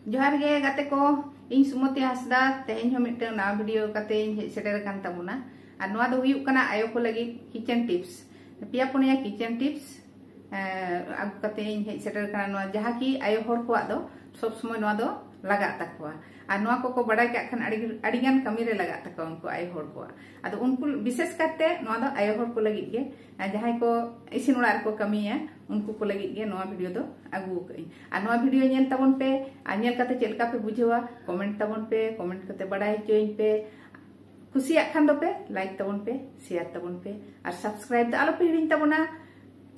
ᱡᱚᱦᱟᱨ ᱜᱮ ᱜᱟᱛᱮ ᱠᱚ ᱤᱧ ᱥᱩᱢᱚᱛᱤ ᱦᱟᱸᱥᱫᱟ ᱛᱮᱦᱮᱧ ᱦᱚᱸ ᱢᱤᱫᱴᱟᱝ ᱱᱟᱣᱟ ᱵᱷᱤᱰᱤᱭᱳ ᱠᱟᱛᱮ ᱤᱧ ᱦᱮᱡ ᱥᱮᱴᱮᱨ ᱟᱠᱟᱱ ᱛᱟᱵᱚᱱᱟ ᱟᱨ ᱱᱚᱣᱟ ᱫᱚ ᱦᱩᱭᱩᱜ ᱠᱟᱱᱟ ᱟᱭᱳ ᱠᱚ ᱞᱟᱹᱜᱤᱫ ᱠᱤᱪᱮᱱ ᱴᱤᱯᱥ ᱯᱮᱭᱟ ᱯᱩᱱᱭᱟ ᱠᱤᱪᱮᱱ ᱴᱤᱯᱥ ᱟᱹᱜᱩ ᱠᱟᱛᱮ ᱤᱧ ᱦᱮᱡ ᱥᱮᱴᱮᱨ ᱟᱠᱟᱱᱟ ᱱᱚᱣᱟ ᱡᱟᱦᱟᱸ ᱠᱤ ᱟᱭᱳ ᱦᱚᱲ ᱠᱚᱣᱟᱜ ᱫᱚ ᱥᱚᱵ ᱥᱚᱢᱚᱭ ᱱᱚᱣᱟ ᱫᱚ ᱞᱟᱜᱟᱜ ᱛᱟᱠᱚᱣᱟ ᱟᱨ ᱱᱚᱣᱟ ᱠᱚᱠᱚ ᱵᱟᱰᱟᱭ ᱠᱟᱜ ᱠᱷᱟᱱ ᱟᱹᱰᱤ ᱟᱹᱰᱤᱜᱟᱱ ᱠᱟᱹᱢᱤᱨᱮ ᱞᱟᱜᱟᱜ ᱛᱟᱠᱚᱣᱟ ᱩᱱᱠᱩ ᱟᱭᱳ ᱦᱚᱲ ᱠᱚᱣᱟᱜ ᱟᱫᱚ ᱩᱱᱠᱩ ᱵᱤᱥᱮᱥ ᱠᱟᱛᱮ ᱱᱚᱣᱟ ᱫᱚ ᱟᱭᱳ ᱦᱚᱲ ᱠᱚ ᱞᱟᱹᱜᱤᱫ ᱜᱮ ᱡᱟᱦᱟᱸᱭ ᱠᱚ ᱤᱥᱤᱱ ᱚᱲᱟᱜ ᱨᱮᱠᱚ ᱠᱟᱹᱢᱤᱭᱟ ᱩᱱᱠᱩ ᱠᱚ ᱞᱟᱹᱜᱤᱫ ᱜᱮ ᱱᱚᱣᱟ ᱵᱷᱤᱰᱤᱭᱳ ᱫᱚ ᱟᱹᱜᱩ ᱟᱠᱟᱫᱟᱹᱧ ᱟᱨ ᱱᱚᱣᱟ ᱵᱷᱤᱰᱤᱭᱳ ᱧᱮᱞ ᱛᱟᱵᱚᱱ ᱯᱮ ᱟᱨ ᱧᱮᱞ ᱠᱟᱛᱮ ᱪᱮᱫ ᱞᱮᱠᱟ ᱯᱮ ᱵᱩᱡᱷᱟᱹᱣᱟ ᱠᱚᱢᱮᱱᱴ ᱛᱟᱵᱚᱱ ᱯᱮ ᱠᱚᱢᱮᱱᱴ ᱠᱟᱛᱮ ᱵᱟᱰᱟᱭ ᱦᱚᱪᱚᱭᱤᱧ ᱯᱮ ᱠᱩᱥᱤᱭᱟᱜ ᱠᱷᱟᱱ ᱫᱚᱯᱮ ᱞᱟᱭᱤᱠ ᱛᱟᱵᱚᱱ ᱯᱮ ᱥᱮᱭᱟᱨ ᱛᱟᱵᱚᱱ ᱯᱮ ᱟᱨ ᱥᱟᱵᱥᱠᱨᱟᱭᱤᱵ ᱫᱚ ᱟᱞᱚᱯᱮ ᱦᱤᱲᱤᱧ ᱛᱟᱵᱚᱱᱟ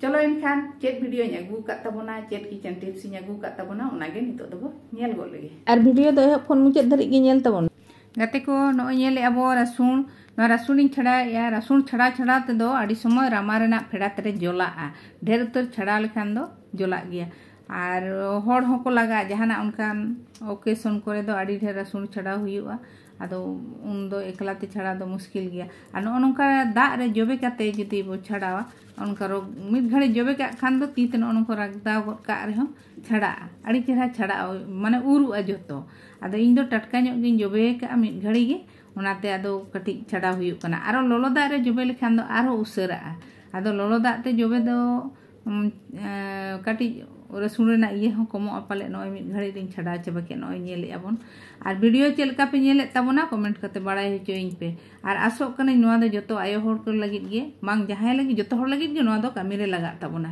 ᱪᱚᱞᱚ ᱮᱱᱠᱷᱟᱱ ᱪᱮᱫ ᱵᱷᱤᱰᱤᱭᱳᱧ ᱟᱹᱜᱩ ᱟᱠᱟᱫ ᱛᱟᱵᱚᱱᱟ ᱪᱮᱫ ᱠᱤᱪᱮᱱ ᱴᱤᱯᱥᱤᱧ ᱟᱹᱜᱩ ᱟᱠᱟᱫ ᱛᱟᱵᱚᱱᱟ ᱚᱱᱟᱜᱮ ᱱᱤᱛᱚᱜ ᱫᱚᱵᱚ ᱧᱮᱞ ᱜᱚᱫ ᱞᱮᱜᱮ ᱟᱨ ᱵᱷᱤᱰᱤᱭᱳ ᱫᱚ ᱮᱦᱚᱵ ᱠᱷᱚᱱ ᱢᱩᱪᱟᱹᱫ ᱫᱷᱟᱹᱨᱤᱡ ᱜᱮ ᱧᱮᱞ ᱛᱟᱵᱚᱱ ᱜᱟᱛᱮ ᱠᱚ ᱱᱚᱜᱼᱚᱭ ᱧᱮᱞᱮᱫ ᱟᱵᱚ ᱨᱟᱹᱥᱩᱱ ᱱᱚᱣᱟ ᱨᱟᱹᱥᱩᱱᱤᱧ ᱪᱷᱟᱲᱟᱣᱮᱫᱼᱟ ᱨᱟᱹᱥᱩᱱ ᱪᱷᱟᱲᱟ ᱪᱷᱟᱲᱟ ᱛᱮᱫᱚ ᱟᱹᱰᱤ ᱥᱚᱢᱚᱭ ᱨᱟᱢᱟ ᱨᱮᱱᱟᱜ ᱯᱷᱮᱰᱟᱛ ᱨᱮ ᱡᱚᱞᱟᱜᱼᱟ ᱰᱷᱮᱨ ᱩᱛᱟᱹᱨ ᱪᱷᱟᱲᱟᱣ ᱞᱮᱠᱷᱟᱱ ᱫᱚ ᱡᱚᱞᱟᱜ ᱜᱮᱭᱟ ᱟᱨ ᱦᱚᱲ ᱦᱚᱸᱠᱚ ᱞᱟᱜᱟᱜᱼᱟ ᱡᱟᱦᱟᱱᱟᱜ ᱚᱱᱠᱟᱱ ᱚᱠᱮᱥᱚᱱ ᱠᱚᱨᱮ ᱫᱚ ᱟᱹᱰᱤ ᱰᱷᱮᱨ ᱨᱟᱹᱥᱩᱱ ᱪᱷᱟᱲᱟᱣ ᱦᱩᱭᱩᱜᱼᱟ ᱟᱫᱚ ᱩᱱᱫᱚ ᱮᱠᱞᱟᱛᱮ ᱪᱷᱟᱲᱟᱣ ᱫᱚ ᱢᱩᱥᱠᱤᱞ ᱜᱮᱭᱟ ᱟᱨ ᱱᱚᱜᱼᱚ ᱱᱚᱝᱠᱟ ᱫᱟᱜ ᱨᱮ ᱡᱚᱵᱮ ᱠᱟᱛᱮ ᱡᱩᱫᱤ ᱵᱚ ᱪᱷᱟᱲᱟᱣᱟ ᱚᱱᱠᱟ ᱨᱳᱜᱽ ᱢᱤᱫ ᱜᱷᱟᱹᱲᱤᱡ ᱡᱚᱵᱮ ᱠᱟᱜ ᱠᱷᱟᱱ ᱫᱚ ᱛᱤ ᱛᱮ ᱱᱚᱜᱼᱚ ᱱᱚᱝᱠᱟ ᱨᱟᱜᱽᱫᱟᱣ ᱜᱚᱫ ᱠᱟᱜ ᱨᱮᱦᱚᱸ ᱪᱷᱟᱲᱟᱜᱼᱟ ᱟᱹᱰᱤ ᱪᱮᱦᱨᱟ ᱪᱷᱟᱲᱟᱜᱼᱟ ᱢᱟᱱᱮ ᱩᱨᱩᱜᱼᱟ ᱡᱚᱛᱚ ᱟᱫᱚ ᱤᱧ ᱫᱚ ᱴᱟᱴᱠᱟ ᱧᱚᱜ ᱜᱤᱧ ᱡᱚᱵᱮ ᱠᱟᱜᱼᱟ ᱢᱤᱫ ᱜᱷᱟᱹᱲᱤ ᱜᱮ ᱚᱱᱟᱛᱮ ᱟᱫᱚ ᱠᱟᱹᱴᱤᱡ ᱪᱷᱟᱰᱟᱣ ᱦᱩᱭᱩᱜ ᱠᱟᱱᱟ ᱟᱨᱚ ᱞᱚᱞᱚ ᱫᱟᱜ ᱨᱮ ᱡᱚᱵᱮ ᱞᱮᱠᱷᱟᱱ ᱫᱚ ᱟᱨᱦᱚᱸ ᱩᱥᱟᱹᱨᱟᱜᱼᱟ ᱟᱫᱚ ᱞᱚᱞᱚ ᱫᱟᱜ ᱛᱮ ᱡᱚᱵᱮ ᱫᱚ ᱠᱟᱹᱴᱤᱡ ᱨᱟᱹᱥᱩᱱ ᱨᱮᱱᱟᱜ ᱤᱭᱟᱹ ᱦᱚᱸ ᱠᱚᱢᱚᱜᱼᱟ ᱯᱟᱞᱮ ᱱᱚᱜᱼᱚᱭ ᱢᱤᱫ ᱜᱷᱟᱹᱲᱤ ᱨᱤᱧ ᱪᱷᱟᱰᱟᱣ ᱪᱟᱵᱟ ᱠᱮᱫ ᱱᱚᱜᱼᱚᱭ ᱧᱮᱞᱮᱫᱼᱟ ᱵᱚᱱ ᱟᱨ ᱵᱷᱤᱰᱤᱭᱳ ᱪᱮᱫ ᱞᱮᱠᱟ ᱯᱮ ᱧᱮᱞᱮᱫ ᱛᱟᱵᱚᱱᱟ ᱠᱚᱢᱮᱱᱴ ᱠᱟᱛᱮ ᱵᱟᱲᱟᱭ ᱦᱚᱪᱚᱭᱤᱧ ᱯᱮ ᱟᱨ ᱟᱥᱚᱜ ᱠᱟᱹᱱᱟᱹᱧ ᱱᱚᱣᱟ ᱫᱚ ᱡᱚᱛᱚ ᱟᱭᱳ ᱦᱚᱲ ᱠᱚ ᱞᱟᱹᱜᱤᱫ ᱜᱮ ᱵᱟᱝ ᱡᱟᱦᱟᱸᱭ ᱞᱟᱹᱜᱤᱫ ᱡᱚᱛᱚ ᱦᱚᱲ ᱞᱟᱹᱜᱤᱫ ᱜᱮ ᱱᱚᱣᱟ ᱫᱚ ᱠᱟᱹᱢᱤ ᱨᱮ ᱞᱟᱜᱟᱜ ᱛᱟᱵᱚᱱᱟ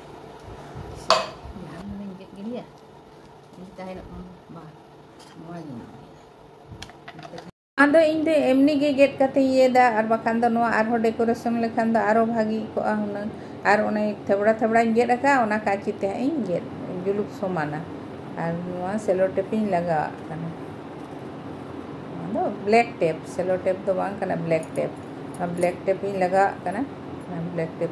ᱟᱫᱚ ᱤᱧ ᱫᱚ ᱮᱢᱱᱤ ᱜᱮ ᱜᱮᱫ ᱠᱟᱛᱮ ᱤᱭᱟᱹᱭᱫᱟ ᱟᱨ ᱵᱟᱠᱷᱟᱱ ᱫᱚ ᱱᱚᱣᱟ ᱟᱨᱦᱚᱸ ᱰᱮᱠᱳᱨᱮᱥᱚᱱ ᱞᱮᱠᱷᱟᱱ ᱫᱚ ᱟᱨᱚ ᱵᱷᱟᱹᱜᱤ ᱠᱚᱜᱼᱟ ᱦᱩᱱᱟᱹᱝ ᱟᱨ ᱚᱱᱮ ᱛᱷᱮᱵᱲᱟ ᱛᱷᱮᱵᱲᱟᱧ ᱜᱮᱫ ᱟᱠᱟᱫᱼᱟ ᱚᱱᱟ ᱠᱟᱸᱪᱤ ᱛᱮ ᱦᱟᱸᱜ ᱤᱧ ᱜᱮᱫ ᱡᱩᱞᱩᱯ ᱥᱚᱢᱟᱱᱟ ᱟᱨ ᱱᱚᱣᱟ ᱥᱮᱞᱳ ᱴᱮᱯ ᱤᱧ ᱞᱟᱜᱟᱣᱟᱜ ᱠᱟᱱᱟ ᱟᱫᱚ ᱵᱞᱮᱠ ᱴᱮᱯ ᱥᱮᱞᱳ ᱴᱮᱯ ᱫᱚ ᱵᱟᱝ ᱠᱟᱱᱟ ᱵᱞᱮᱠ ᱴᱮᱯ ᱵᱞᱮᱠ ᱴᱮᱯ ᱤᱧ ᱞᱟᱜᱟᱣᱟᱜ ᱠᱟᱱᱟ ᱵᱞᱮᱠ ᱴᱮᱯ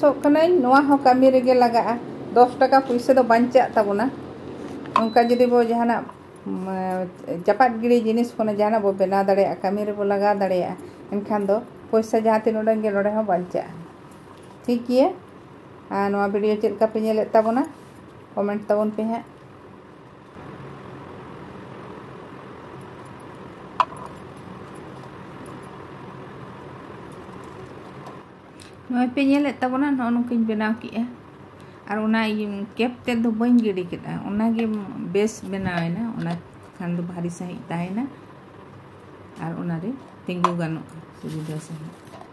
ᱥᱚᱜ ᱠᱟᱹᱱᱟᱹᱧ ᱱᱚᱣᱟ ᱦᱚᱸ ᱠᱟᱹᱢᱤ ᱨᱮᱜᱮ ᱞᱟᱜᱟᱜᱼᱟ ᱫᱚᱥ ᱴᱟᱠᱟ ᱯᱩᱭᱥᱟᱹ ᱫᱚ ᱵᱟᱧᱪᱟᱜ ᱛᱟᱵᱚᱱᱟ ᱚᱱᱠᱟ ᱡᱩᱫᱤ ᱵᱚ ᱡᱟᱦᱟᱱᱟᱜ ᱪᱟᱯᱟᱫ ᱜᱤᱲᱤ ᱡᱤᱱᱤᱥ ᱠᱷᱚᱱ ᱡᱟᱦᱟᱱᱟᱜ ᱵᱚ ᱵᱮᱱᱟᱣ ᱫᱟᱲᱮᱭᱟᱜᱼᱟ ᱠᱟᱹᱢᱤ ᱨᱮᱵᱚ ᱞᱟᱜᱟᱣ ᱫᱟᱲᱮᱭᱟᱜᱼᱟ ᱮᱱᱠᱷᱟᱱ ᱫᱚ ᱯᱚᱭᱥᱟ ᱡᱟᱦᱟᱸ ᱛᱤᱱ ᱩᱰᱟᱹᱝ ᱜᱮ ᱱᱚᱰᱮ ᱦᱚᱸ ᱵᱟᱧᱪᱟᱜᱼᱟ ᱴᱷᱤᱠ ᱜᱮᱭᱟ ᱟᱨ ᱱᱚᱣᱟ ᱵᱷᱤᱰᱤᱭᱳ ᱪᱮᱫ ᱞᱮᱠᱟ ᱯᱮ ᱧᱮᱞᱮᱫ ᱛᱟᱵᱚᱱᱟ ᱠᱚᱢᱮᱱᱴ ᱛᱟᱵᱚᱱ ᱯᱮ ᱦᱟᱸᱜ ᱱᱚᱜᱼᱚᱭ ᱯᱮ ᱧᱮᱞᱮᱫ ᱛᱟᱵᱚᱱᱟ ᱱᱚᱜᱼᱚ ᱱᱚᱝᱠᱟᱧ ᱵᱮᱱᱟᱣ ᱠᱮᱫᱼᱟ ᱟᱨ ᱚᱱᱟ ᱠᱮᱯ ᱛᱮᱫ ᱫᱚ ᱵᱟᱹᱧ ᱜᱤᱰᱤ ᱠᱮᱫᱼᱟ ᱚᱱᱟᱜᱮ ᱵᱮᱥ ᱵᱮᱱᱟᱣᱮᱱᱟ ᱚᱱᱟ ᱠᱷᱟᱱ ᱫᱚ ᱵᱷᱟᱨᱤ ᱥᱟᱺᱦᱤᱡ ᱛᱟᱦᱮᱱᱟ ᱟᱨ ᱚᱱᱟᱨᱮ ᱛᱤᱸᱜᱩ ᱜᱟᱱᱚᱜᱼᱟ ᱥᱩᱵᱤᱫᱷᱟ ᱥᱟᱺᱦᱤᱡ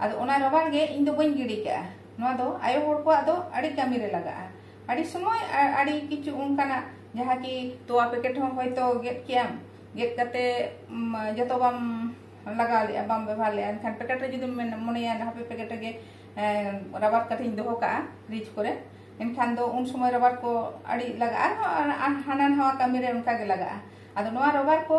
ᱟᱫᱚ ᱚᱱᱟ ᱨᱟᱵᱟᱲ ᱜᱮ ᱤᱧ ᱫᱚ ᱵᱟᱹᱧ ᱜᱤᱰᱤ ᱠᱟᱜᱼᱟ ᱱᱚᱣᱟ ᱫᱚ ᱟᱭᱳ ᱦᱚᱲ ᱠᱚᱣᱟᱜ ᱫᱚ ᱟᱹᱰᱤ ᱠᱟᱹᱢᱤ ᱨᱮ ᱞᱟᱜᱟᱜᱼᱟ ᱟᱹᱰᱤ ᱥᱚᱢᱚᱭ ᱟᱹᱰᱤ ᱠᱤᱪᱷᱩ ᱚᱱᱠᱟᱱᱟᱜ ᱡᱟᱦᱟᱸ ᱠᱤ ᱛᱚᱣᱟ ᱯᱮᱠᱮᱴ ᱦᱚᱸ ᱦᱚᱭᱛᱚ ᱜᱮᱫ ᱠᱮᱭᱟᱢ ᱜᱮᱫ ᱠᱟᱛᱮ ᱡᱚᱛᱚ ᱵᱟᱢ ᱞᱟᱜᱟᱣ ᱞᱮᱜᱼᱟ ᱵᱟᱢ ᱵᱮᱵᱷᱟᱨ ᱞᱮᱜᱼᱟ ᱮᱱᱠᱷᱟᱱ ᱯᱮᱠᱮᱴ ᱨᱮ ᱡᱩᱫᱤᱢ ᱢᱚᱱᱮᱭᱟ ᱦᱟᱯᱮ ᱯᱮᱠᱮᱴ ᱨᱮᱜᱮ ᱨᱟᱵᱟᱨ ᱠᱟᱛᱮᱧ ᱫᱚᱦᱚ ᱠᱟᱜᱼᱟ ᱯᱷᱨᱤᱡᱽ ᱠᱚᱨᱮ ᱮᱱᱠᱷᱟᱱ ᱫᱚ ᱩᱱ ᱥᱚᱢᱚᱭ ᱨᱟᱵᱟᱨ ᱠᱚ ᱟᱹᱰᱤ ᱞᱟᱜᱟᱜᱼᱟ ᱟᱨᱦᱚᱸ ᱦᱟᱱᱟ ᱱᱟᱣᱟ ᱠᱟᱹᱢᱤ ᱨᱮ ᱚᱱᱠᱟ ᱜᱮ ᱞᱟᱜᱟᱜᱼᱟ ᱟᱫᱚ ᱱᱚᱣᱟ ᱨᱟᱵᱟᱨ ᱠᱚ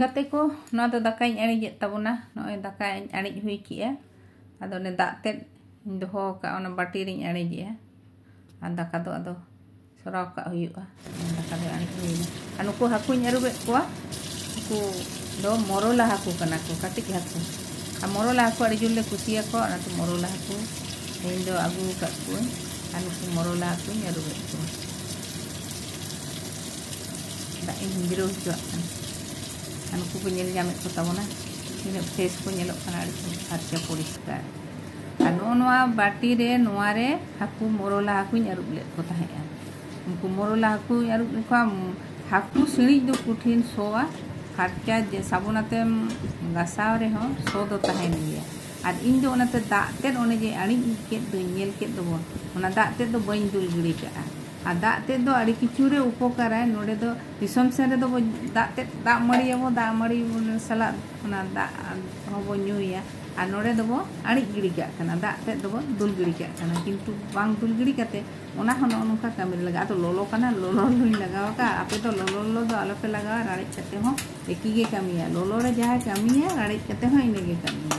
ᱜᱟᱛᱮ ᱠᱚ ᱱᱚᱣᱟ ᱫᱚ ᱫᱟᱠᱟᱧ ᱟᱲᱤᱡᱮᱫ ᱛᱟᱵᱚᱱᱟ ᱱᱚᱜᱼᱚᱭ ᱫᱟᱠᱟᱧ ᱟᱲᱤᱡ ᱦᱩᱭ ᱠᱮᱜᱼᱟ ᱟᱫᱚ ᱚᱱᱮ ᱫᱟᱜ ᱛᱮᱫ ᱤᱧ ᱫᱚᱦᱚ ᱟᱠᱟᱫᱼᱟ ᱚᱱᱟ ᱵᱟᱹᱴᱤ ᱨᱤᱧ ᱟᱲᱤᱡᱮᱜᱼᱟ ᱟᱨ ᱫᱟᱠᱟ ᱫᱚ ᱟᱫᱚ ᱥᱚᱨᱟᱣ ᱠᱟᱜ ᱦᱩᱭᱩᱜᱼᱟ ᱫᱟᱠᱟ ᱫᱚ ᱟᱲᱤᱡ ᱦᱩᱭᱱᱟ ᱟᱨ ᱱᱩᱠᱩ ᱦᱟᱹᱠᱩᱧ ᱟᱹᱨᱩᱵᱮᱫ ᱠᱚᱣᱟ ᱩᱱᱠᱩ ᱫᱚ ᱢᱚᱨᱚᱞᱟ ᱦᱟᱹᱠᱩ ᱠᱟᱱᱟ ᱠᱚ ᱠᱟᱹᱴᱤᱡ ᱦᱟᱹᱠᱩ ᱟᱨ ᱢᱚᱨᱚᱞᱟ ᱦᱟᱹᱠᱩ ᱟᱹᱰᱤ ᱡᱳᱨ ᱞᱮ ᱠᱩᱥᱤᱭᱟᱠᱚᱣᱟ ᱚᱱᱟᱛᱮ ᱢᱚᱨᱚᱞᱟ ᱦᱟᱹᱠᱩ ᱛᱮᱦᱮᱧ ᱫᱚ ᱟᱹᱜᱩ ᱟᱠᱟᱫ ᱠᱚᱣᱟᱹᱧ ᱟᱨ ᱱᱩᱠᱩ ᱢᱚᱨᱚᱞᱟ ᱦᱟᱹᱠᱩᱧ ᱟᱹᱨᱩᱵᱮᱫ ᱠᱚᱣᱟ ᱫᱟᱜ ᱤᱧ ᱡᱤᱨᱟᱹᱣ ᱦᱚᱪᱚᱣᱟᱜ ᱠᱟᱱᱟ ᱟᱨ ᱱᱩᱠᱩ ᱠᱚ ᱧᱮᱞ ᱧᱟᱢᱮᱫ ᱠᱚ ᱛᱟᱵᱚᱱᱟ ᱛᱤᱱᱟᱹᱜ ᱯᱷᱨᱮᱥ ᱠᱚ ᱧᱮᱞᱚᱜ ᱠᱟᱱᱟ ᱟᱹᱰᱤ ᱠᱚ ᱯᱷᱟᱨᱪᱟ ᱯᱚᱨᱤᱥᱠᱟᱨ ᱟᱨ ᱱᱚᱜᱼᱚ ᱱᱚᱣᱟ ᱵᱟᱹᱴᱤ ᱨᱮ ᱱᱚᱣᱟ ᱨᱮ ᱦᱟᱹᱠᱩ ᱢᱚᱨᱚᱞᱟ ᱦᱟᱹᱠᱩᱧ ᱟᱹᱨᱩᱵ ᱞᱮᱫ ᱠᱚ ᱛᱟᱦᱮᱸᱫᱼᱟ ᱩᱱᱠᱩ ᱢᱚᱨᱚᱞᱟ ᱦᱟᱹᱠᱩᱧ ᱟᱹᱨᱩᱵ ᱞᱮᱫ ᱠᱚᱣᱟ ᱦᱟᱹᱠᱩ ᱥᱤᱬᱤᱡ ᱫᱚ ᱠᱚᱴᱷᱤᱱ ᱥᱚᱣᱟ ᱯᱷᱟᱨᱪᱟ ᱡᱮ ᱥᱟᱵᱚᱱ ᱟᱛᱮᱢ ᱜᱟᱥᱟᱣ ᱨᱮᱦᱚᱸ ᱥᱚ ᱫᱚ ᱛᱟᱦᱮᱱ ᱜᱮᱭᱟ ᱟᱨ ᱤᱧ ᱫᱚ ᱚᱱᱟᱛᱮ ᱫᱟᱜ ᱛᱮᱫ ᱚᱱᱮ ᱡᱮ ᱟᱹᱬᱤᱡ ᱠᱮᱫ ᱫᱚᱧ ᱧᱮᱞ ᱠᱮᱫ ᱫᱚᱵᱚᱱ ᱚᱱᱟ ᱫᱟᱜ ᱛᱮᱫ ᱫᱚ ᱵᱟᱹᱧ ᱫᱩᱞ ᱜᱤᱰᱤ ᱠᱟᱜᱼᱟ ᱟᱨ ᱫᱟᱜ ᱛᱮᱫ ᱫᱚ ᱟᱹᱰᱤ ᱠᱤᱪᱷᱩ ᱨᱮ ᱩᱯᱚᱠᱟᱨᱟᱭ ᱱᱚᱰᱮ ᱫᱚ ᱫᱤᱥᱚᱢ ᱥᱮᱱ ᱨᱮᱫᱚ ᱵᱚ ᱫᱟᱜ ᱛᱮᱫ ᱫᱟᱜ ᱢᱟᱹᱲᱤ ᱟᱵᱚ ᱫᱟᱜ ᱢᱟᱹᱲᱤ ᱥᱟᱞᱟᱜ ᱚᱱᱟ ᱫᱟᱜ ᱦᱚᱸ ᱵᱚ ᱧᱩᱭᱟ ᱟᱨ ᱱᱚᱰᱮ ᱫᱚ ᱵᱚ ᱟᱹᱬᱤᱡ ᱜᱤᱰᱤ ᱠᱟᱜ ᱠᱟᱱᱟ ᱫᱟᱜ ᱛᱮᱫ ᱫᱚ ᱵᱚ ᱫᱩᱞ ᱜᱤᱰᱤ ᱠᱟᱜ ᱠᱟᱱᱟ ᱠᱤᱱᱛᱩ ᱵᱟᱝ ᱫᱩᱞ ᱜᱤᱰᱤ ᱠᱟᱛᱮ ᱚᱱᱟ ᱦᱚᱸ ᱱᱚᱜᱼᱚ ᱱᱚᱝᱠᱟ ᱠᱟᱹᱢᱤ ᱨᱮ ᱞᱟᱜᱟᱜᱼᱟ ᱟᱫᱚ ᱞᱚᱞᱚ ᱠᱟᱱᱟ ᱞᱚᱞᱚ ᱞᱚᱞᱚᱧ ᱞᱟᱜᱟᱣ ᱟᱠᱟᱫᱼᱟ ᱟᱯᱮ ᱫᱚ ᱞᱚᱞᱚ ᱞᱚᱞᱚ ᱫᱚ ᱟᱞᱚ ᱯᱮ ᱞᱟᱜᱟᱣᱟ ᱨᱟᱲᱮᱡ ᱠᱟᱛᱮ ᱦᱚᱸ ᱮᱠᱤ ᱜᱮ ᱠᱟᱹᱢᱤᱭᱟ ᱞᱚᱞᱚ ᱨᱮ ᱡᱟᱦᱟᱸᱭ ᱠᱟᱹᱢᱤᱭᱟ ᱨᱟᱲᱮᱡ ᱠᱟᱛᱮ ᱦᱚᱸ ᱤᱱᱟᱹ ᱜᱮ ᱠᱟᱹᱢᱤᱭᱟ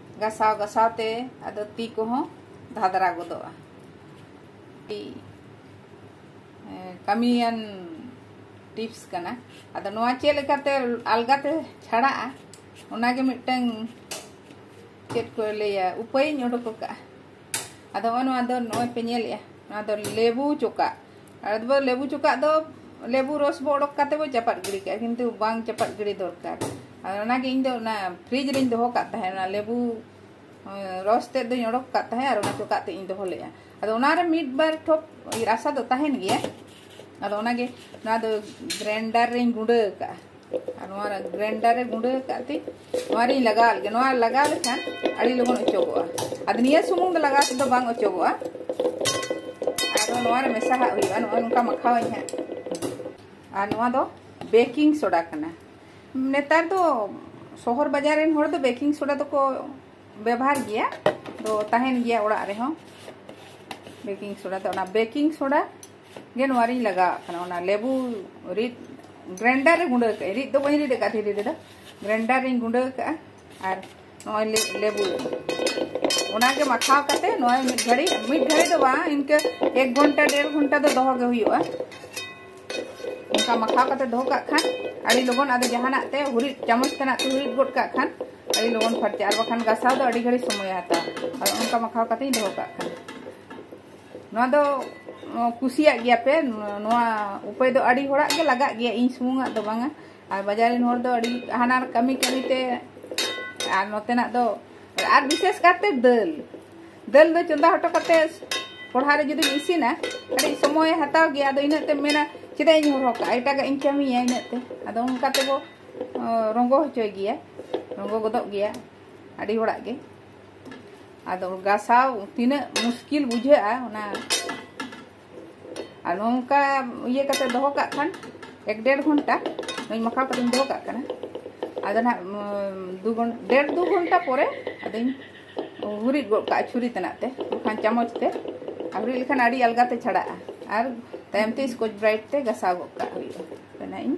ᱜᱟᱥᱟᱣ ᱜᱟᱥᱟᱣ ᱛᱮ ᱟᱫᱚ ᱛᱤ ᱠᱚᱦᱚᱸ ᱫᱷᱟᱫᱨᱟ ᱜᱚᱫᱚᱜᱼᱟ ᱠᱟᱹᱢᱤᱭᱟᱱ ᱴᱤᱯᱥ ᱠᱟᱱᱟ ᱟᱫᱚ ᱱᱚᱣᱟ ᱪᱮᱫ ᱞᱮᱠᱟᱛᱮ ᱟᱞᱜᱟᱛᱮ ᱪᱷᱟᱲᱟᱜᱼᱟ ᱚᱱᱟᱜᱮ ᱢᱤᱫᱴᱟᱝ ᱪᱮᱫ ᱠᱚ ᱞᱟᱹᱭᱟ ᱩᱯᱟᱹᱭᱤᱧ ᱚᱰᱚᱠ ᱟᱠᱟᱫᱼᱟ ᱟᱫᱚ ᱱᱚᱜᱼᱚ ᱱᱚᱣᱟ ᱫᱚ ᱱᱚᱜᱼᱚᱭ ᱯᱮ ᱧᱮᱞᱮᱫᱼᱟ ᱱᱚᱣᱟ ᱫᱚ ᱞᱮᱵᱩ ᱪᱚᱠᱟᱜ ᱟᱫᱚ ᱵᱚ ᱞᱮᱵᱩ ᱪᱚᱠᱟᱜ ᱫᱚ ᱞᱮᱵᱩ ᱨᱚᱥ ᱵᱚ ᱚᱰᱚᱠ ᱠᱟᱛᱮ ᱵᱚ ᱪᱟᱯᱟᱫ ᱜᱤᱰᱤ ᱠᱟᱜᱼᱟ ᱠᱤᱱᱛᱩ ᱵᱟᱝ ᱪᱟᱯᱟᱫ ᱜᱤᱰᱤ ᱫᱚᱨᱠᱟᱨ ᱟᱨ ᱚᱱᱟᱜᱮ ᱤᱧ ᱫᱚ ᱚᱱᱟ ᱯᱷᱨᱤᱡᱽ ᱨᱮᱧ ᱫᱚᱦᱚ ᱠᱟᱜ ᱛᱟᱦᱮᱸᱫ ᱚᱱᱟ ᱞᱮᱵᱩ ᱨᱚᱥ ᱛᱮᱫ ᱫᱚᱧ ᱚᱰᱚᱠ ᱠᱟᱜ ᱛᱟᱦᱮᱸᱫ ᱟᱨ ᱚᱱᱟ ᱪᱚᱠᱟᱜ ᱛᱮ ᱤᱧ ᱫᱚᱦᱚ ᱞᱮᱫᱼᱟ ᱟᱫᱚ ᱚᱱᱟᱨᱮ ᱢᱤᱫ ᱵᱟᱨ ᱴᱷᱚᱯ ᱨᱟᱥᱟ ᱫᱚ ᱛᱟᱦᱮᱱ ᱜᱮᱭᱟ ᱟᱫᱚ ᱚᱱᱟᱜᱮ ᱱᱚᱣᱟ ᱫᱚ ᱜᱨᱟᱭᱤᱱᱰᱟᱨ ᱨᱮᱧ ᱜᱩᱸᱰᱟᱹ ᱟᱠᱟᱜᱼᱟ ᱟᱨ ᱱᱚᱣᱟ ᱜᱨᱟᱭᱤᱱᱰᱟᱨ ᱨᱮ ᱜᱩᱸᱰᱟᱹ ᱟᱠᱟᱫ ᱛᱮ ᱱᱚᱣᱟ ᱨᱤᱧ ᱞᱟᱜᱟᱣ ᱞᱮᱜᱮ ᱱᱚᱣᱟ ᱞᱟᱜᱟᱣ ᱞᱮᱠᱷᱟᱱ ᱟᱹᱰᱤ ᱞᱚᱜᱚᱱ ᱚᱪᱚᱜᱚᱜᱼᱟ ᱟᱫᱚ ᱱᱤᱭᱟᱹ ᱥᱩᱢᱩᱝ ᱫᱚ ᱞᱟᱜᱟᱣ ᱛᱮᱫᱚ ᱵᱟᱝ ᱚᱪᱚᱜᱚᱜᱼᱟ ᱟᱫᱚ ᱱᱚᱣᱟ ᱨᱮ ᱢᱮᱥᱟ ᱦᱟᱜ ᱦᱩᱭᱩᱜᱼᱟ ᱱᱚᱜᱼᱚᱭ ᱱᱚᱝᱠᱟ ᱢᱟᱠᱷᱟᱣᱟᱹᱧ ᱦᱟᱸᱜ ᱟᱨ ᱱᱚᱣᱟ ᱫᱚ ᱵᱮᱠᱤᱝ ᱥᱳᱰᱟ ᱠᱟᱱᱟ ᱱᱮᱛᱟᱨ ᱫᱚ ᱥᱚᱦᱚᱨ ᱵᱟᱡᱟᱨ ᱨᱮᱱ ᱦᱚᱲ ᱫᱚ ᱵᱮᱠᱤᱝ ᱥᱳᱰᱟ ᱫᱚᱠᱚ ᱵᱮᱵᱷᱟᱨ ᱜᱮᱭᱟ ᱫᱚ ᱛᱟᱦᱮᱱ ᱜᱮᱭᱟ ᱚᱲᱟᱜ ᱨᱮᱦᱚᱸ ᱵᱮᱠᱤᱝ ᱥᱳᱰᱟ ᱫᱚ ᱚᱱᱟ ᱵᱮᱠᱤᱝ ᱥᱳᱰᱟ ᱜᱮ ᱱᱚᱣᱟ ᱨᱤᱧ ᱞᱟᱜᱟᱣᱟᱜ ᱠᱟᱱᱟ ᱚᱱᱟ ᱞᱮᱵᱩ ᱨᱤᱫ ᱜᱨᱮᱱᱰᱟᱨ ᱨᱮ ᱜᱩᱸᱰᱟᱹ ᱠᱟᱜᱼᱟ ᱨᱤᱫ ᱫᱚ ᱵᱟᱹᱧ ᱨᱤᱫ ᱟᱠᱟᱫ ᱫᱷᱤᱨᱤ ᱨᱮᱫᱚ ᱜᱨᱮᱱᱰᱟᱨ ᱨᱤᱧ ᱜᱩᱸᱰᱟᱹ ᱠᱟᱜᱼᱟ ᱟᱨ ᱱᱚᱜᱼᱚᱭ ᱞᱮᱵᱩ ᱚᱱᱟᱜᱮ ᱢᱟᱠᱷᱟᱣ ᱠᱟᱛᱮ ᱱᱚᱜᱼᱚᱭ ᱢᱤᱫ ᱜᱷᱟᱹᱲᱤ ᱢᱤᱫ ᱜᱷᱟᱹᱲᱤ ᱫᱚ ᱵᱟᱝ ᱤᱱᱠᱟᱹ ᱮᱠ ᱜᱷᱚᱱᱴᱟ ᱰᱮᱲ ᱜᱷᱚᱱᱴᱟ ᱫᱚ ᱫᱚᱦᱚ ᱜᱮ ᱦᱩᱭᱩᱜᱼᱟ ᱚᱱᱠᱟ ᱢᱟᱠᱷᱟᱣ ᱠᱟᱛᱮ ᱫᱚᱦᱚ ᱠᱟᱜ ᱠᱷᱟᱱ ᱟᱹᱰᱤ ᱞᱚᱜᱚᱱ ᱟᱫᱚ ᱡᱟᱦᱟᱱᱟᱜ ᱛᱮ ᱦᱩᱨᱤᱫ ᱪᱟᱢᱚᱪ ᱛᱮᱱᱟᱜ ᱛᱮ ᱦᱩᱨᱤᱫ ᱜᱚᱫ ᱠᱟᱜ ᱠᱷᱟᱱ ᱟᱹᱰᱤ ᱞᱚᱜᱚᱱ ᱯᱷᱟᱨᱪᱟᱜᱼᱟ ᱟᱨ ᱵᱟᱠᱷᱟᱱ ᱜᱟᱥᱟᱣ ᱫᱚ ᱟᱹᱰᱤ ᱜᱷᱟᱹᱲᱤ ᱥᱚᱢᱚᱭ ᱦᱟᱛᱟᱣᱟ ᱟᱫᱚ ᱚᱱᱠᱟ ᱢᱟᱠᱷᱟᱣ ᱠᱟᱛᱮᱧ ᱫᱚᱦᱚ ᱠᱟᱜ ᱠᱟᱱᱟ ᱱᱚᱣᱟ ᱫᱚ ᱠᱩᱥᱤᱭᱟᱜ ᱜᱮᱭᱟ ᱯᱮ ᱱᱚᱣᱟ ᱩᱯᱟᱹᱭ ᱫᱚ ᱟᱹᱰᱤ ᱦᱚᱲᱟᱜ ᱜᱮ ᱞᱟᱜᱟᱜ ᱜᱮᱭᱟ ᱤᱧ ᱥᱩᱢᱩᱝᱟᱜ ᱫᱚ ᱵᱟᱝᱟ ᱟᱨ ᱵᱟᱡᱟᱨ ᱨᱮᱱ ᱦᱚᱲ ᱫᱚ ᱟᱹᱰᱤ ᱦᱟᱱᱟ ᱠᱟᱹᱢᱤ ᱠᱟᱹᱢᱤ ᱛᱮ ᱟᱨ ᱱᱚᱛᱮᱱᱟᱜ ᱫᱚ ᱟᱨ ᱵᱤᱥᱮᱥ ᱠᱟᱨᱛᱮ ᱫᱟᱹᱞ ᱫᱟᱹᱞ ᱫᱚ ᱪᱚᱸᱫᱟ ᱦᱚᱴᱚ ᱠᱟᱛᱮ ᱠᱚᱲᱦᱟ ᱨᱮ ᱡᱩᱫᱤᱢ ᱤᱥᱤᱱᱟ ᱟᱹᱰᱤ ᱥᱚᱢᱚᱭ ᱦᱟᱛᱟᱣ ᱜᱮᱭᱟ ᱟᱫᱚ ᱤᱱᱟᱹᱜ ᱛᱮ ᱢᱮᱱᱟ ᱪᱮᱫᱟᱜ ᱤᱧ ᱦᱚᱨᱦᱚ ᱠᱟᱜᱼᱟ ᱮᱴᱟᱜᱟᱜ ᱤᱧ ᱠᱟᱹᱢᱤᱭᱟ ᱤᱱᱟᱹᱜ ᱛᱮ ᱟᱫᱚ ᱚᱱᱠᱟ ᱛᱮᱵᱚ ᱨᱚᱸᱜᱚ ᱦᱚᱪᱚᱭ ᱜᱮᱭᱟ ᱨᱚᱸᱜᱚ ᱜᱚᱫᱚᱜ ᱜᱮᱭᱟ ᱟᱹᱰᱤ ᱦᱚᱲᱟᱜ ᱜᱮ ᱟᱫᱚ ᱜᱟᱥᱟᱣ ᱛᱤᱱᱟᱹᱜ ᱢᱩᱥᱠᱤᱞ ᱵᱩᱡᱷᱟᱹᱜᱼᱟ ᱚᱱᱟ ᱟᱨ ᱱᱚᱝᱠᱟ ᱤᱭᱟᱹ ᱠᱟᱛᱮ ᱫᱚᱦᱚ ᱠᱟᱜ ᱠᱷᱟᱱ ᱮᱠ ᱰᱮᱲ ᱜᱷᱚᱱᱴᱟ ᱱᱚᱧ ᱢᱟᱠᱷᱟᱣ ᱠᱟᱛᱮᱧ ᱫᱚᱦᱚ ᱠᱟᱜ ᱠᱟᱱᱟ ᱟᱫᱚ ᱱᱟᱜ ᱫᱩ ᱜᱷᱚᱱᱴᱟ ᱰᱮᱲ ᱫᱩ ᱜᱷᱚᱱᱴᱟ ᱯᱚᱨᱮ ᱟᱫᱚᱧ ᱦᱩᱨᱤᱫ ᱜᱚᱫ ᱠᱟᱜᱼᱟ ᱪᱷᱩᱨᱤ ᱛᱮᱱᱟᱜ ᱛᱮ ᱵᱟᱠᱷᱟᱱ ᱪᱟᱢᱚᱪ ᱛᱮ ᱟᱨ ᱦᱩᱨᱤᱫ ᱞᱮᱠᱷᱟᱱ ᱟᱹᱰᱤ ᱟᱞᱜᱟ ᱛᱮ ᱪᱷᱟᱲᱟᱜᱼᱟ ᱟᱨ ᱛᱟᱭᱚᱢ ᱛᱮ ᱥᱠᱚᱪ ᱵᱨᱟᱭᱤᱴ ᱛᱮ ᱜᱟᱥᱟᱣ ᱜᱚᱫ ᱠᱟᱜ ᱦᱩᱭᱩᱜᱼᱟ ᱚᱱᱟ ᱤᱧ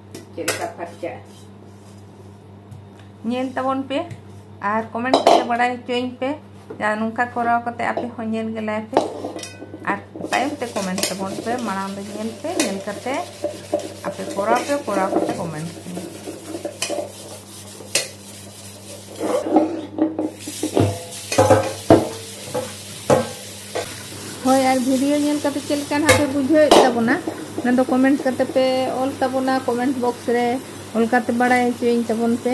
ᱪᱮᱫᱞᱮᱠᱟ ᱯᱷᱟᱨᱪᱟᱜᱼᱟ ᱧᱮᱞ ᱛᱟᱵᱚᱱ ᱯᱮ ᱟᱨ ᱠᱚᱢᱮᱱᱴ ᱛᱮ ᱵᱟᱲᱟᱭ ᱦᱚᱪᱚᱭᱤᱧ ᱯᱮ ᱡᱟᱦᱟᱸ ᱱᱚᱝᱠᱟ ᱠᱚᱨᱟᱣ ᱠᱟᱛᱮ ᱟᱯᱮ ᱦᱚᱸ ᱧᱮᱞ ᱜᱮᱞᱟᱭ ᱯᱮ ᱟᱨ ᱛᱟᱭᱚᱢ ᱛᱮ ᱠᱚᱢᱮᱱᱴ ᱛᱟᱵᱚᱱ ᱯᱮ ᱢᱟᱲᱟᱝ ᱫᱚ ᱧᱮᱞ ᱯᱮ ᱧᱮᱞ ᱠᱟᱛᱮ ᱟᱯᱮ ᱠᱚᱨᱟᱣ ᱯᱮ ᱠᱚᱨᱟᱣ ᱠᱟᱛᱮ ᱠᱚᱢᱮᱱᱴ ᱯᱮ ᱦᱳᱭ ᱟᱨ ᱵᱷᱤᱰᱤᱭᱳ ᱧᱮᱞ ᱠᱟᱛᱮ ᱪᱮᱫ ᱞᱮᱠᱟ ᱱᱟᱜ ᱯᱮ ᱵᱩᱡᱷᱟᱹᱣᱮᱫ ᱛᱟᱵᱚᱱᱟ ᱚᱱᱟ ᱫᱚ ᱠᱚᱢᱮᱱᱴ ᱠᱟᱛᱮ ᱯᱮ ᱚᱞ ᱛᱟᱵᱚᱱᱟ ᱠᱚᱢᱮᱱᱴ ᱵᱚᱠᱥ ᱨᱮ ᱚᱞ ᱠᱟᱛᱮ ᱵᱟᱲᱟᱭ ᱦᱚᱪᱚᱭᱤᱧ ᱛᱟᱵᱚᱱ ᱯᱮ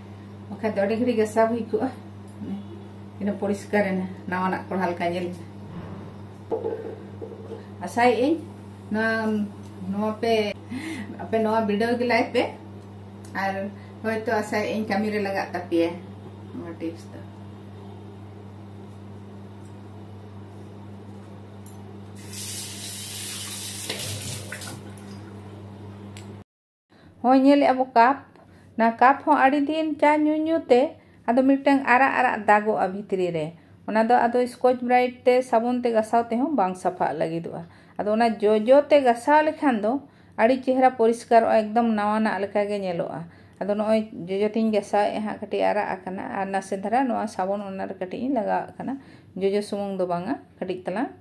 ᱵᱟᱠᱷᱟᱡ ᱫᱚ ᱟᱹᱰᱤ ᱜᱷᱟᱹᱲᱤᱡ ᱜᱟᱥᱟᱣ ᱦᱩᱭ ᱠᱚᱜᱼᱟ ᱤᱱᱟᱹ ᱯᱚᱨᱤᱥᱠᱟᱨ ᱮᱱᱟ ᱱᱟᱣᱟᱱᱟᱜ ᱠᱚᱲᱦᱟ ᱞᱮᱠᱟ ᱧᱮᱞ ᱮᱱᱟ ᱟᱥᱟᱭᱮᱫ ᱟᱹᱧ ᱱᱚᱣᱟ ᱱᱚᱣᱟ ᱯᱮ ᱟᱯᱮ ᱱᱚᱣᱟ ᱵᱤᱰᱟᱹᱣ ᱜᱮᱞᱟᱭ ᱯᱮ ᱟᱨ ᱦᱚᱭᱛᱚ ᱟᱥᱟᱭᱮᱫ ᱟᱹᱧ ᱠᱟᱹᱢᱤ ᱨᱮ ᱞᱟᱜᱟᱜ ᱛᱟᱯᱮᱭᱟ ᱱᱚᱣᱟ ᱴᱤᱯᱥ ᱫᱚ ᱦᱚᱸ ᱧᱮᱞ ᱮᱜᱼᱟ ᱵᱚ ᱠᱟᱯ ᱱᱟ ᱠᱟᱯ ᱦᱚᱸ ᱟᱹᱰᱤ ᱫᱤᱱ ᱪᱟ ᱧᱩ ᱧᱩ ᱛᱮ ᱟᱫᱚ ᱢᱤᱫᱴᱟᱝ ᱟᱨᱟᱜ ᱟᱨᱟᱜ ᱫᱟᱜᱚᱜᱼᱟ ᱵᱷᱤᱛᱨᱤ ᱨᱮ ᱚᱱᱟ ᱫᱚ ᱟᱫᱚ ᱥᱠᱚᱪ ᱵᱨᱟᱭᱤᱴ ᱛᱮ ᱥᱟᱵᱚᱱ ᱛᱮ ᱜᱟᱥᱟᱣ ᱛᱮᱦᱚᱸ ᱵᱟᱝ ᱥᱟᱯᱷᱟᱜ ᱞᱟᱹᱜᱤᱫᱚᱜᱼᱟ ᱟᱫᱚ ᱚᱱᱟ ᱡᱚᱡᱚ ᱛᱮ ᱜᱟᱥᱟᱣ ᱞᱮᱠᱷᱟᱱ ᱫᱚ ᱟᱹᱰᱤ ᱪᱮᱦᱨᱟ ᱯᱚᱨᱤᱥᱠᱟᱨᱚᱜᱼᱟ ᱮᱠᱫᱚᱢ ᱱᱟᱣᱟᱱᱟᱜ ᱞᱮᱠᱟ ᱜᱮ ᱧᱮᱞᱚᱜᱼᱟ ᱟᱫᱚ ᱱᱚᱜᱼᱚᱭ ᱡᱚᱡᱚ ᱛᱤᱧ ᱜᱟᱥᱟᱣᱮᱜᱼᱟ ᱦᱟᱸᱜ ᱠᱟᱹᱴᱤᱡ ᱟᱨᱟᱜ ᱟᱠᱟᱱᱟ ᱟᱨ ᱱᱟᱥᱮ ᱫᱷᱟᱨᱟ ᱱᱚᱣᱟ ᱥᱟᱵᱚᱱ ᱚᱱᱟ ᱨᱮ ᱠᱟᱹᱴᱤᱡ ᱤᱧ ᱞᱟᱜᱟᱣᱟᱜ ᱠᱟᱱᱟ ᱡᱚᱡᱚ ᱥᱩᱢᱩᱝ ᱫᱚ ᱵᱟᱝᱟ ᱠᱟᱹᱴᱤᱡ ᱛᱟᱞᱟᱝ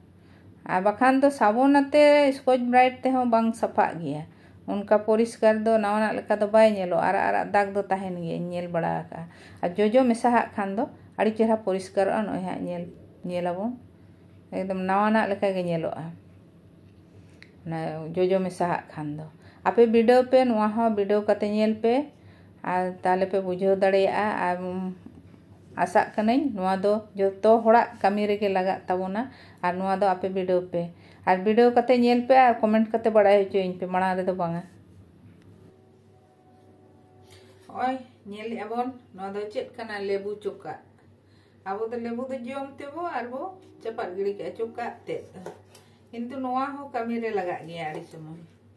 ᱟᱨ ᱵᱟᱠᱷᱟᱱ ᱫᱚ ᱥᱟᱵᱚᱱ ᱟᱛᱮ ᱥᱠᱚᱪ ᱵᱨᱟᱭᱤᱴ ᱛᱮᱦᱚᱸ ᱵᱟᱝ ᱥᱟᱯᱷᱟᱜ ᱜᱮᱭᱟ ᱚᱱᱠᱟ ᱯᱚᱨᱤᱥᱠᱟᱨ ᱫᱚ ᱱᱟᱣᱟᱱᱟᱜ ᱞᱮᱠᱟ ᱫᱚ ᱵᱟᱭ ᱧᱮᱞᱚᱜᱼᱟ ᱟᱨᱟᱜ ᱟᱨᱟᱜ ᱫᱟᱜᱽ ᱫᱚ ᱛᱟᱦᱮᱱ ᱜᱮᱭᱟ ᱤᱧ ᱧᱮᱞ ᱵᱟᱲᱟ ᱟᱠᱟᱫᱼᱟ ᱟᱨ ᱡᱚᱡᱚ ᱢᱮᱥᱟᱦᱟᱜ ᱠᱷᱟᱱ ᱫᱚ ᱟᱹᱰᱤ ᱪᱮᱦᱨᱟ ᱯᱚᱨᱤᱥᱠᱟᱨᱚᱜᱼᱟ ᱱᱚᱜᱼᱚᱭ ᱦᱟᱸᱜ ᱧᱮᱞ ᱧᱮᱞ ᱟᱵᱚᱱ ᱮᱠᱫᱚᱢ ᱱᱟᱣᱟᱱᱟᱜ ᱞᱮᱠᱟ ᱜᱮ ᱧᱮᱞᱚᱜᱼᱟ ᱚᱱᱟ ᱡᱚᱡᱚ ᱢᱮᱥᱟᱦᱟᱜ ᱠᱷᱟᱱ ᱫᱚ ᱟᱯᱮ ᱵᱤᱰᱟᱹᱣ ᱯᱮ ᱱᱚᱣᱟ ᱦᱚᱸ ᱵᱤᱰᱟᱹᱣ ᱠᱟᱛᱮ ᱧᱮᱞ ᱯᱮ ᱟᱨ ᱛᱟᱦᱚᱞᱮ ᱯᱮ ᱵᱩᱡᱷᱟᱹᱣ ᱫᱟᱲᱮᱭᱟᱜᱼᱟ ᱟᱨ ᱟᱥᱟᱜ ᱠᱟᱹᱱᱟᱹᱧ ᱱᱚᱣᱟ ᱫᱚ ᱡᱚᱛᱚ ᱦᱚᱲᱟᱜ ᱠᱟᱹᱢᱤ ᱨᱮᱜᱮ ᱞᱟᱜᱟᱜ ᱛᱟᱵᱚᱱᱟ ᱟᱨ ᱱᱚᱣᱟ ᱫᱚ ᱟᱯᱮ ᱵᱤᱰᱟᱹᱣ ᱯᱮ ᱟᱨ ᱵᱤᱰᱟᱹᱣ ᱠᱟᱛᱮ ᱧᱮᱞ ᱯᱮ ᱟᱨ ᱠᱚᱢᱮᱱᱴ ᱠᱟᱛᱮ ᱵᱟᱲᱟᱭ ᱦᱚᱪᱚᱭᱤᱧ ᱯᱮ ᱢᱟᱲᱟᱝ ᱨᱮᱫᱚ ᱵᱟᱝᱟ ᱱᱚᱜᱼᱚᱭ ᱧᱮᱞᱮᱜᱼᱟ ᱵᱚᱱ ᱱᱚᱣᱟ ᱫᱚ ᱪᱮᱫ ᱠᱟᱱᱟ ᱞᱮᱵᱩ ᱪᱚᱠᱟᱜ ᱟᱵᱚ ᱫᱚ ᱞᱮᱵᱩ ᱫᱚ ᱡᱚᱢ ᱛᱮᱵᱚ ᱟᱨ ᱵᱚ ᱪᱟᱯᱟᱫ ᱜᱤᱲᱤ ᱠᱟᱜᱼᱟ ᱪᱚᱠᱟᱜ ᱛᱮᱫ ᱠᱤᱱᱛᱩ ᱱᱚᱣᱟ ᱦᱚᱸ ᱠᱟᱹᱢᱤ ᱨᱮ ᱞᱟᱜᱟᱜ ᱜᱮᱭᱟ ᱟᱹᱰᱤ ᱥᱚᱢᱚᱭ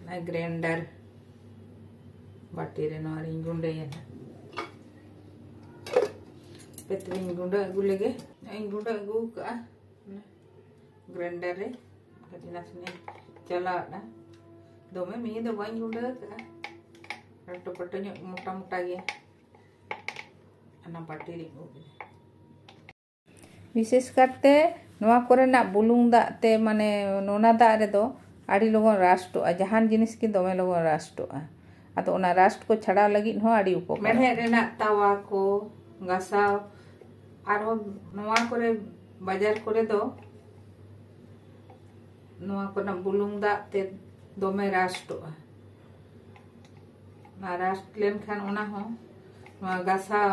ᱚᱱᱟ ᱜᱨᱮᱱᱰᱟᱨ ᱵᱟᱹᱴᱤ ᱨᱮ ᱱᱚᱣᱟ ᱨᱤᱧ ᱜᱩᱸᱰᱟᱹᱭᱟ ᱦᱟᱯᱮ ᱛᱚᱵᱮᱧ ᱜᱩᱸᱰᱟᱹ ᱟᱹᱜᱩ ᱞᱮᱜᱮ ᱱᱚᱜᱼᱚᱭ ᱜᱩᱸᱰᱟᱹ ᱟᱹᱜᱩ ᱠᱟᱜᱼᱟ ᱜᱨᱮᱱᱰᱟᱨ ᱨᱮ ᱠᱟᱹᱴᱤᱡ ᱱᱟᱥᱮᱱᱟᱜ ᱪᱟᱞᱟᱣᱫᱟ ᱫᱚᱢᱮ ᱢᱤᱦᱤ ᱫᱚ ᱵᱟᱹᱧ ᱜᱩᱸᱰᱟᱹ ᱠᱟᱜᱼᱟ ᱞᱟᱹᱴᱩ ᱯᱟᱹᱴᱩ ᱧᱚᱜ ᱢᱚᱴᱟ ᱢᱚᱴᱟ ᱜᱮᱭᱟ ᱚᱱᱟ ᱵᱟᱹᱴᱤ ᱨᱤᱧ ᱩᱵ ᱮᱫᱟ ᱵᱤᱥᱮᱥ ᱠᱟᱨᱛᱮ ᱱᱚᱣᱟ ᱠᱚᱨᱮᱱᱟᱜ ᱵᱩᱞᱩᱝ ᱫᱟᱜ ᱛᱮ ᱢᱟᱱᱮ ᱱᱚᱱᱟ ᱫᱟᱜ ᱨᱮᱫᱚ ᱟᱹᱰᱤ ᱞᱚᱜᱚᱱ ᱨᱟᱥᱴᱚᱜᱼᱟ ᱡᱟᱦᱟᱱ ᱡᱤᱱᱤᱥ ᱜᱮ ᱫᱚᱢᱮ ᱞᱚᱜᱚᱱ ᱨᱟᱥᱴᱚᱜᱼᱟ ᱟᱫᱚ ᱚᱱᱟ ᱨᱟᱥᱴ ᱠᱚ ᱪᱷᱟᱲᱟᱣ ᱞᱟᱹᱜᱤᱫ ᱦᱚᱸ ᱟᱹᱰᱤ ᱩᱯᱚᱠᱟᱨ ᱢᱮᱬᱦᱮᱫ ᱨᱮᱱᱟᱜ ᱛᱟᱣᱟ ᱠᱚ ᱜᱟᱥᱟᱣ ᱟᱨᱦᱚᱸ ᱱᱚᱣᱟ ᱠᱚᱨᱮ ᱵᱟᱡᱟᱨ ᱠᱚᱨᱮ ᱫᱚ ᱱᱚᱣᱟ ᱠᱚᱨᱮᱱᱟᱜ ᱵᱩᱞᱩᱝ ᱫᱟᱜ ᱛᱮ ᱫᱚᱢᱮ ᱨᱟᱥᱴᱚᱜᱼᱟ ᱚᱱᱟ ᱨᱟᱥᱴ ᱞᱮᱱᱠᱷᱟᱱ ᱚᱱᱟ ᱦᱚᱸ ᱱᱚᱣᱟ ᱜᱟᱥᱟᱣ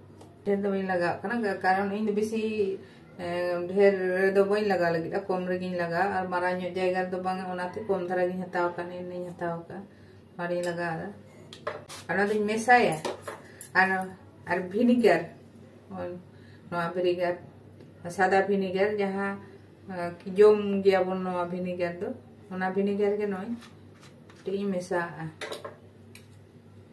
ᱰᱷᱮᱨ ᱫᱚ ᱵᱟᱹᱧ ᱞᱟᱜᱟᱣ ᱠᱟᱱᱟ ᱠᱟᱨᱚᱱ ᱤᱧ ᱫᱚ ᱵᱮᱥᱤ ᱰᱷᱮᱨ ᱨᱮᱫᱚ ᱵᱟᱹᱧ ᱞᱟᱜᱟᱣ ᱞᱟᱹᱜᱤᱫ ᱠᱚᱢ ᱨᱮᱜᱤᱧ ᱞᱟᱜᱟᱣ ᱟᱨ ᱢᱟᱨᱟᱝ ᱧᱚᱜ ᱡᱟᱭᱜᱟ ᱨᱮᱫᱚ ᱵᱟᱝ ᱚᱱᱟᱛᱮ ᱠᱚᱢ ᱫᱷᱟᱨᱟ ᱜᱤᱧ ᱦᱟᱛᱟᱣ ᱠᱟᱜ ᱤᱧ ᱦᱟᱛᱟᱣ ᱠᱟᱜ ᱟᱨᱤᱧ ᱞᱟᱜᱟᱣ ᱫᱟ ᱚᱱᱟ ᱫᱚᱧ ᱢᱮᱥᱟᱭᱟ ᱟᱨ ᱟᱨ ᱵᱷᱤᱱᱤᱜᱟᱨ ᱱᱚᱣᱟ ᱵᱷᱤᱱᱤᱜᱟᱨ ᱥᱟᱫᱟ ᱵᱷᱤᱱᱤᱜᱟᱨ ᱡᱟᱦᱟᱸ ᱡᱚᱢ ᱜᱮᱭᱟᱵᱚᱱ ᱱᱚᱣᱟ ᱵᱷᱤᱱᱤᱜᱟᱨ ᱫᱚ ᱚᱱᱟ ᱵᱷᱤᱱᱤᱜᱟᱨ ᱜᱮ ᱱᱚᱜᱼᱚᱭ ᱠᱟᱹᱴᱤᱡ ᱤᱧ ᱢᱮᱥᱟᱣᱟᱜᱼᱟ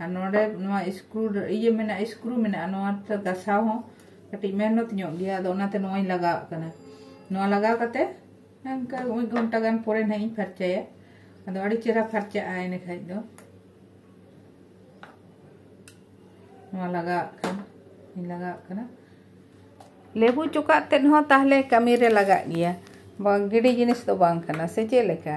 ᱟᱨ ᱱᱚᱰᱮ ᱱᱚᱣᱟ ᱥᱠᱨᱩ ᱤᱭᱟᱹ ᱢᱮᱱᱟᱜᱼᱟ ᱥᱠᱨᱩ ᱢᱮᱱᱟᱜᱼᱟ ᱱᱚᱣᱟ ᱜᱟᱥᱟᱣ ᱦᱚᱸ ᱠᱟᱹᱴᱤᱡ ᱢᱮᱦᱱᱚᱛ ᱧᱚᱜ ᱜᱮᱭᱟ ᱟᱫᱚ ᱚᱱᱟᱛᱮ ᱱᱚᱣᱟᱧ ᱞᱟᱜᱟᱣᱟᱜ ᱠᱟᱱᱟ ᱱᱚᱣᱟ ᱞᱟᱜᱟᱣ ᱠᱟᱛᱮ ᱚᱱᱠᱟ ᱢᱤᱫ ᱜᱷᱚᱱᱴᱟ ᱜᱟᱱ ᱯᱚᱨᱮ ᱱᱟᱦᱟᱜ ᱤᱧ ᱯᱷᱟᱨᱪᱟᱭᱟ ᱟᱫᱚ ᱟᱹᱰᱤ ᱪᱮᱦᱨᱟ ᱯᱷᱟᱨᱪᱟᱜᱼᱟ ᱤᱱᱟᱹ ᱠᱷᱟᱡ ᱫᱚ ᱱᱚᱣᱟ ᱞᱟᱜᱟᱣᱟᱜ ᱠᱟᱱ ᱤᱧ ᱞᱟᱜᱟᱣᱟᱜ ᱠᱟᱱᱟ ᱞᱮᱵᱩ ᱪᱚᱠᱟᱜ ᱛᱮᱫ ᱦᱚᱸ ᱛᱟᱦᱞᱮ ᱠᱟᱹᱢᱤᱨᱮ ᱞᱟᱜᱟᱜ ᱜᱮᱭᱟ ᱵᱟᱝ ᱜᱤᱰᱤ ᱡᱤᱱᱤᱥ ᱫᱚ ᱵᱟᱝ ᱠᱟᱱᱟ ᱥᱮ ᱪᱮᱫ ᱞᱮᱠᱟ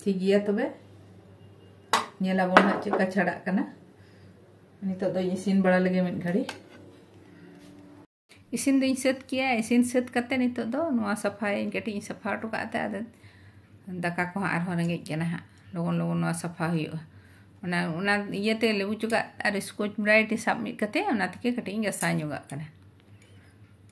ᱴᱷᱤᱠ ᱜᱮᱭᱟ ᱛᱚᱵᱮ ᱧᱮᱞᱟᱵᱚᱱ ᱦᱟᱸᱜ ᱪᱮᱫ ᱞᱮᱠᱟ ᱪᱷᱟᱲᱟᱜ ᱠᱟᱱᱟ ᱱᱤᱛᱚᱜ ᱫᱚᱧ ᱤᱥᱤᱱ ᱵᱟᱲᱟ ᱞᱮᱜᱮ ᱢᱤᱫ ᱜᱷᱟᱹᱲᱤ ᱤᱥᱤᱱ ᱫᱚᱧ ᱥᱟᱹᱛ ᱠᱮᱭᱟ ᱤᱥᱤᱱ ᱥᱟᱹᱛ ᱠᱟᱛᱮ ᱱᱤᱛᱚᱜ ᱫᱚ ᱱᱚᱣᱟ ᱥᱟᱯᱷᱟᱭᱟᱹᱧ ᱠᱟᱹᱴᱤᱡ ᱤᱧ ᱥᱟᱯᱷᱟ ᱦᱚᱴᱚ ᱠᱟᱜ ᱛᱮ ᱟᱫᱚ ᱫᱟᱠᱟ ᱠᱚ ᱦᱟᱸᱜ ᱟᱨᱦᱚᱸ ᱨᱮᱸᱜᱮᱡ ᱠᱟᱱᱟ ᱦᱟᱸᱜ ᱞᱚᱜᱚᱱ ᱞᱚᱜᱚᱱ ᱱᱚᱣᱟ ᱥᱟᱯᱷᱟ ᱦᱩᱭᱩᱜᱼᱟ ᱚᱱᱟ ᱚᱱᱟ ᱤᱭᱟᱹᱛᱮ ᱞᱮᱵᱩ ᱪᱚᱠᱟᱜ ᱟᱨ ᱥᱠᱚᱪ ᱵᱨᱟᱭᱤᱴ ᱥᱟᱵ ᱢᱤᱫ ᱠᱟᱛᱮ ᱚᱱᱟ ᱛᱮᱜᱮ ᱠᱟᱹᱴᱤᱡ ᱤᱧ ᱜᱟᱥᱟᱣ ᱧᱚᱜᱟᱜ ᱠᱟᱱᱟ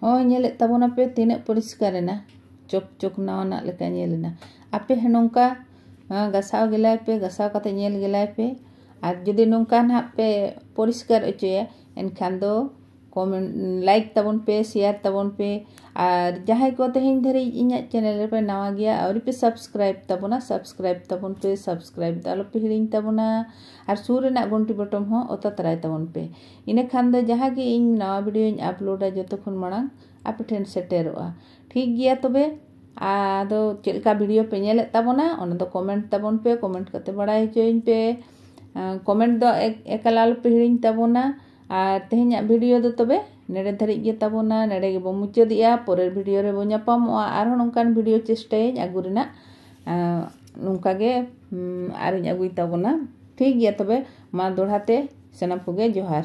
ᱦᱚᱸ ᱧᱮᱞᱮᱫ ᱛᱟᱵᱚᱱᱟᱯᱮ ᱛᱤᱱᱟᱹᱜ ᱯᱚᱨᱤᱥᱠᱟᱨ ᱮᱱᱟ ᱪᱚᱠ ᱪᱚᱠ ᱱᱟᱣᱟᱱᱟᱜ ᱞᱮᱠᱟ ᱧᱮᱞ ᱮᱱᱟ ᱟᱯᱮ ᱦᱚᱸ ᱱᱚᱝᱠᱟ ᱜᱟᱥᱟᱣ ᱜᱮᱞᱟᱭ ᱯᱮ ᱜᱟᱥᱟᱣ ᱠᱟᱛᱮ ᱧᱮᱞ ᱜᱮᱞᱟᱭ ᱯᱮ ᱟᱨ ᱡᱩᱫᱤ ᱱᱚᱝᱠᱟ ᱱᱟᱦᱟᱜ ᱯᱮ ᱯᱚᱨᱤᱥᱠᱟᱨ ᱚᱪᱚᱭᱟ ᱮᱱᱠᱷᱟᱱ ᱫᱚ ᱠᱚᱢᱮᱱᱴ ᱞᱟᱭᱤᱠ ᱛᱟᱵᱚᱱ ᱯᱮ ᱥᱮᱭᱟᱨ ᱛᱟᱵᱚᱱ ᱯᱮ ᱟᱨ ᱡᱟᱦᱟᱸᱭ ᱠᱚ ᱛᱮᱦᱮᱧ ᱫᱷᱟᱹᱨᱤᱡ ᱤᱧᱟᱹᱜ ᱪᱮᱱᱮᱞ ᱨᱮᱯᱮ ᱱᱟᱣᱟ ᱜᱮᱭᱟ ᱟᱹᱣᱨᱤ ᱯᱮ ᱥᱟᱵᱥᱠᱨᱟᱭᱤᱵ ᱛᱟᱵᱚᱱᱟ ᱥᱟᱵᱥᱠᱨᱟᱭᱤᱵ ᱛᱟᱵᱚᱱ ᱯᱮ ᱥᱟᱵᱥᱠᱨᱟᱭᱤᱵ ᱫᱚ ᱟᱞᱚᱯᱮ ᱦᱤᱲᱤᱧ ᱛᱟᱵᱚᱱᱟ ᱟᱨ ᱥᱩᱨ ᱨᱮᱱᱟᱜ ᱜᱷᱚᱱᱴᱤ ᱵᱚᱴᱚᱢ ᱦᱚᱸ ᱚᱛᱟ ᱛᱟᱨᱟᱭ ᱛᱟᱵᱚᱱ ᱯᱮ ᱤᱱᱟᱹᱠᱷᱟᱱ ᱫᱚ ᱡᱟᱦᱟᱸ ᱜᱮ ᱤᱧ ᱱᱟᱣᱟ ᱵᱷᱤᱰᱤᱭᱳᱧ ᱟᱯᱞᱳᱰᱟ ᱡᱚᱛᱚ ᱠᱷᱚᱱ ᱢᱟᱲᱟᱝ ᱟᱯᱮ ᱴᱷᱮᱱ ᱥᱮᱴᱮᱨᱚᱜᱼᱟ ᱴᱷᱤᱠ ᱜᱮᱭᱟ ᱛᱚᱵᱮ ᱟᱫᱚ ᱪᱮᱫ ᱞᱮᱠᱟ ᱵᱷᱤᱰᱤᱭᱳ ᱯᱮ ᱧᱮᱞᱮᱫ ᱛᱟᱵᱚᱱᱟ ᱚᱱᱟ ᱫᱚ ᱠᱚᱢᱮᱱᱴ ᱛᱟᱵᱚᱱ ᱯᱮ ᱠᱚᱢᱮᱱᱴ ᱠᱟᱛᱮ ᱵᱟᱲᱟᱭ ᱦᱚᱪᱚᱭᱤᱧ ᱯᱮ ᱠᱚᱢᱮᱱᱴ ᱫᱚ ᱮᱠᱟᱞ ᱟᱞᱚᱯᱮ ᱦᱤᱲᱤᱧ ᱛᱟᱵᱚᱱᱟ ᱟᱨ ᱛᱮᱦᱮᱧᱟᱜ ᱵᱷᱤᱰᱤᱭᱳ ᱫᱚ ᱛᱚᱵᱮ ᱱᱮᱰᱮ ᱫᱷᱟᱹᱨᱤᱡ ᱜᱮ ᱛᱟᱵᱚᱱᱟ ᱱᱮᱰᱮ ᱜᱮᱵᱚ ᱢᱩᱪᱟᱹᱫᱮᱜᱼᱟ ᱯᱚᱨᱮᱨ ᱵᱷᱤᱰᱤᱭᱳ ᱨᱮᱵᱚ ᱧᱟᱯᱟᱢᱚᱜᱼᱟ ᱟᱨᱦᱚᱸ ᱱᱚᱝᱠᱟᱱ ᱵᱷᱤᱰᱤᱭᱳ ᱪᱮᱥᱴᱟᱭᱟᱹᱧ ᱟᱹᱜᱩ ᱨᱮᱱᱟᱜ ᱱᱚᱝᱠᱟ ᱜᱮ ᱟᱨᱤᱧ ᱟᱹᱜᱩᱭ ᱛᱟᱵᱚᱱᱟ ᱴᱷᱤᱠ ᱜᱮᱭᱟ ᱛᱚᱵᱮ ᱢᱟ ᱫᱚᱲᱦᱟ ᱛᱮ ᱥᱟᱱᱟᱢ ᱠᱚᱜᱮ ᱡᱚᱦᱟᱨ